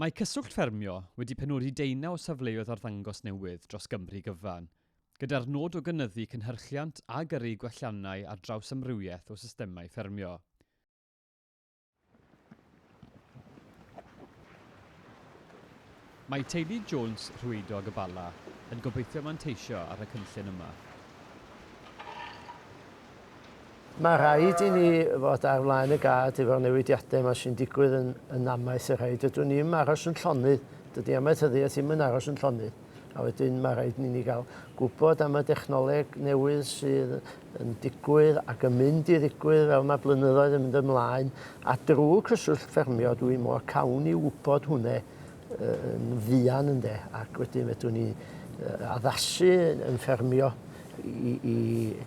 Mae Cyswllt Ffermio wedi penodi deunaw o safleoedd arddangos newydd dros Gymru gyfan, gyda'r nod o gynyddu cynhyrchiant a gyrru gwelliannau ar draws amrywiaeth o systemau ffermio. Mae teulu Jones Rhwydog y Bala yn gobeithio manteisio ar y cynllun yma. Mae rhaid i ni fod ar flaen y gad efo'r newidiadau yma sy'n digwydd yn yn amaeth y rhaid. Dydw ni ddim aros yn llonydd, dydy amaethyddiaeth ddim yn aros yn llonydd. A wedyn mae rhaid i ni gael gwybod am y dechnoleg newydd sydd yn digwydd ac yn mynd i ddigwydd fel mae blynyddoedd yn mynd ymlaen, a drwy Cyswllt Ffermio dwi mor cawn i wybod hwnne yn fuan ynde, ac wedyn fedrwn ni addasu yn ffermio i, i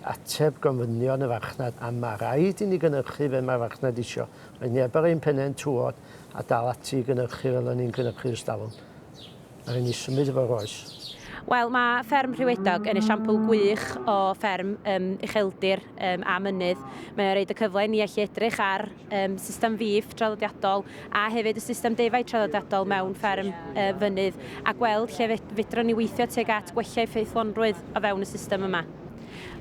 ateb gofynion y farchnad, a mae rhaid i ni gynhyrchu fe mae'r farchnad isio. Mae neb ar ein pennau'n tywod a dal ati i gynhyrchu fel o'n ni'n cynhyrchu ers talwm. A ry'n ni symud efo Rois. Wel, mae fferm Rhiwedog yn esiampl gwych o fferm um, ucheldir um, a mynydd. Mae'n rhaid y cyfle i ni allu edrych ar um, system fif traddodiadol a hefyd y system defaid traddodiadol mewn fferm uh, fynydd a gweld lle fedrwn ni weithio tuag at gwella effeithlonrwydd o fewn y system yma.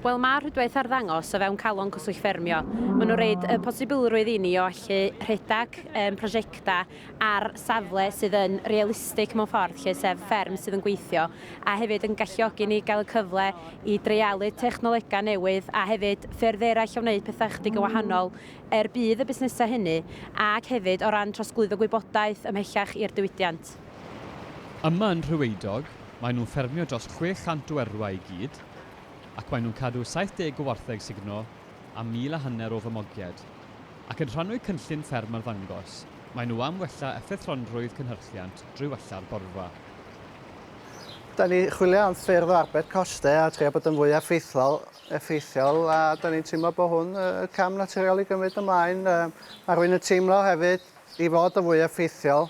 Wel, mae rhwydwaith ar ddangos o fewn calon cyswllt ffermio. Maen nhw'n rhaid y posibilrwydd i ni o allu rhedeg um, prosiectau ar safle sydd yn realistig mewn ffordd 'lly, sef fferm sydd yn gweithio, a hefyd yn galluogi ni gael y cyfle i dreialu technolegau newydd a hefyd ffyrdd eraill o wneud pethau ychydig yn wahanol er budd y busnesau hynny ac hefyd o ran trosglwyddo gwybodaeth ymhellach i'r diwydiant. Yma yn Rhywydog, maen nhw'n ffermio dros 600 o erwau i gyd ac maen nhw'n cadw 70 o wartheg sugno a mil a hanner o famogiaid. Ac yn rhannwy cynllun fferm arddangos, maen nhw am wella effeithlonrwydd cynhyrchiant drwy wella'r borfa. Da ni chwilio am ffyrdd o arbed coste a trio bod yn fwy effeithlol, effeithiol, a da ni'n teimlo bod hwn y cam naturiol i gymryd ymlaen. Mae rwy'n yn teimlo hefyd i fod yn fwy effeithiol.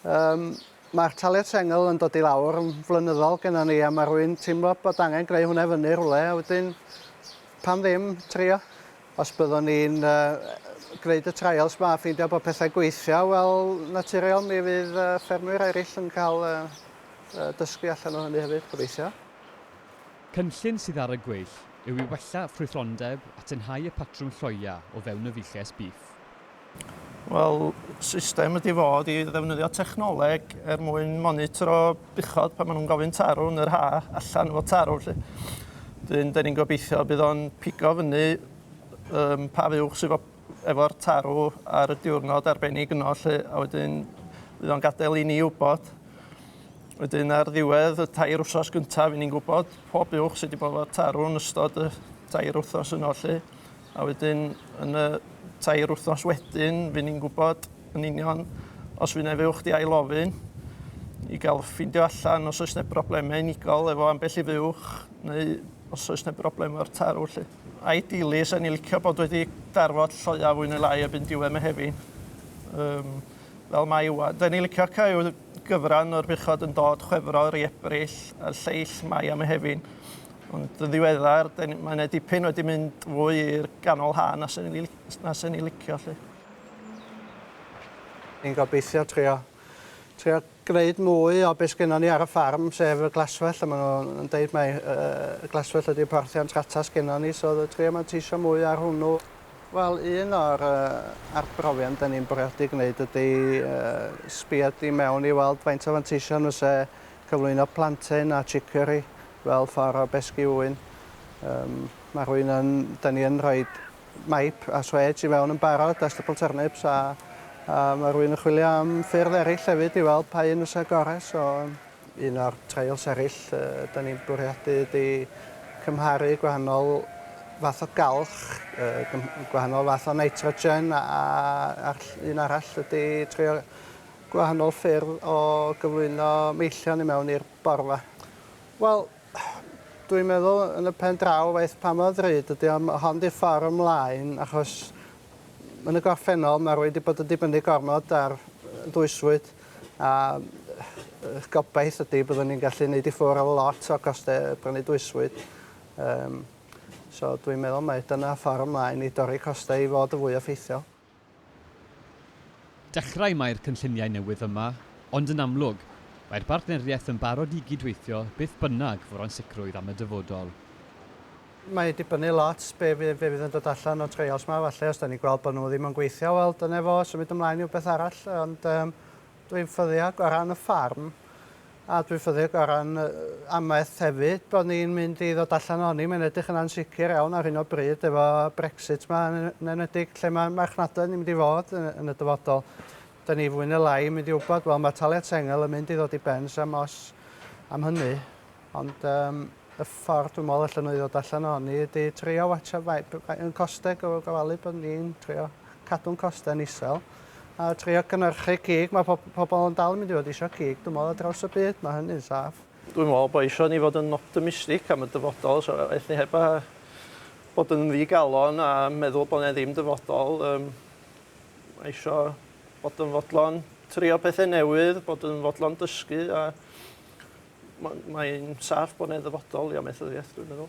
Um, Mae'r taliad sengl yn dod i lawr yn flynyddol gennym ni a mae rwy'n teimlo bod angen gwneud hwnna fyny rhywle a wedyn pam ddim trio. Os byddwn ni'n gwneud y trials ma a ffeindio bod pethau gweithio, wel, naturiol mi fydd ffermwyr eraill yn cael dysgu allan o hynny hefyd, gobeithio. Cynllun sydd ar y gweill yw i wella ffrwythlondeb a tynhau y patrwm lloia o fewn y fuches bîff. Wel, system ydi fo ydi ddefnyddio technoleg er mwyn monitro buchod pan ma' nw'n gofyn tarw yn yr ha' allan efo tarw 'lly. 'Dyn 'dyn ni'n gobeithio bydd o'n pigo fyny yym pa fuwch sy 'fo efo'r tarw ar y diwrnod arbennig yno 'lly a wedyn fydd o'n gadel i ni wbod. Wedyn ar ddiwedd y tair wsos gynta fy' ni'n gwbod pob buwch sy 'di bo' 'fo tarw yn ystod y tair wthnos yno 'lly. A wedyn yn y tair wythnos wedyn, fy ni'n gwybod yn union os fy neu fuwch di ail ofyn i gael ffindio allan os oes neb broblemau unigol efo ambell i fuwch neu os oes neb broblem o'r tarw lle. Ideally, sa'n ni licio bod wedi darfod lloia fwy neu lai erbyn diwedd Mehefin. Um, fel mae yw. Da ni licio cael gyfran o'r buchod yn dod chwefror i ebrill a'r lleill mae am Mehefin. Ond yn ddiweddar, mae yna dipyn wedi mynd fwy i'r ganol ha na sy'n ni, na sy'n ni licio, lle. Ni'n gobeithio trio, trio gwneud mwy o beth sgynnon ni ar y ffarm, sef y glaswell, a maen nhw'n deud mai y glaswell ydy'r porthiant rata sgynnon ni, so trio manteisio mwy ar hwnnw. Wel, un o'r uh, arbrofion da ni'n bwriadu gwneud ydy uh, sbio di mewn i weld faint o fanteision fyse cyflwyno plantain a chicory fel ffordd o besgi ŵyn. Yym ma' rwy'n yn... 'dan ni yn rhoi maip a swêj i mewn yn barod a stubble turnips a a ma' rwy'n yn chwilio am ffyrdd eraill hefyd i weld pa un fysa gore so yym un o'r trials eraill yy 'dan ni'n bwriadu ydi cymharu gwahanol fath o galch yy gym- gwahanol fath o nitrogen a a a'r ll- un arall ydi trio gwahanol ffyrdd o gyflwyno meillion i mewn i'r borfa. Wel, dwi'n meddwl yn y pen draw waeth pa mor ddrud ydi o, ma' hon 'di ffor ymlaen achos yn y gorffennol ma' rywun 'di bod yn dibynnu gormod ar yy ddwysfwyd a yy yy gobaith ydi byddwn ni'n gallu neud i ffwr' o lot o coste prynu dwysfwyd yym so dwi'n meddwl mai dyna ffor ymlaen i dorri coste i fod yn fwy effeithiol. Dechrau mae'r cynlluniau newydd yma, ond yn amlwg, mae'r bartneriaeth yn barod i gyd-weithio beth bynnag fu'r ansicrwydd am y dyfodol. Mae dibynnu lot be fydd be fydd yn dod allan o treials ma falle os dan ni'n gweld bod nhw ddim yn gweithio wel dyna fo symud ymlaen i wbeth arall ond yym dwi'n ffyddiog o ran y ffarm A dwi'n ffyddig o ran amaeth hefyd bod ni'n mynd i ddod allan ohoni, mae'n edrych yn ansicr iawn ar hyn o bryd efo Brexit 'ma yn enwedig lle mae marchnadoedd ni'n mynd i fod yn y dyfodol. Dyn ni fwy neu lai yn mynd i wybod, wel mae taliad sengl yn mynd i ddod i ben sam os am hynny. Ond um, y ffordd dwi'n meddwl allan nhw i ddod allan ohoni ydy trio watsio faint yn costeg o gofalu bod ni'n trio cadw'n costau'n isel, a trio cynhyrchu cig. Mae pob, pobl yn dal yn mynd i fod eisiau cig, dwi'n meddwl, ar draws y byd, mae hynny'n saff. Dwi'n meddwl bod eisiau ni fod yn optimistig am y dyfodol, so eith ni heb a bod yn ddigalon a meddwl bod yna ddim dyfodol. Um, eisiau bod yn fodlon trio pethau newydd, bod yn fodlon dysgu a mae'n saff bod yna ddyfodol i amaethyddiaeth, dwi'n meddwl.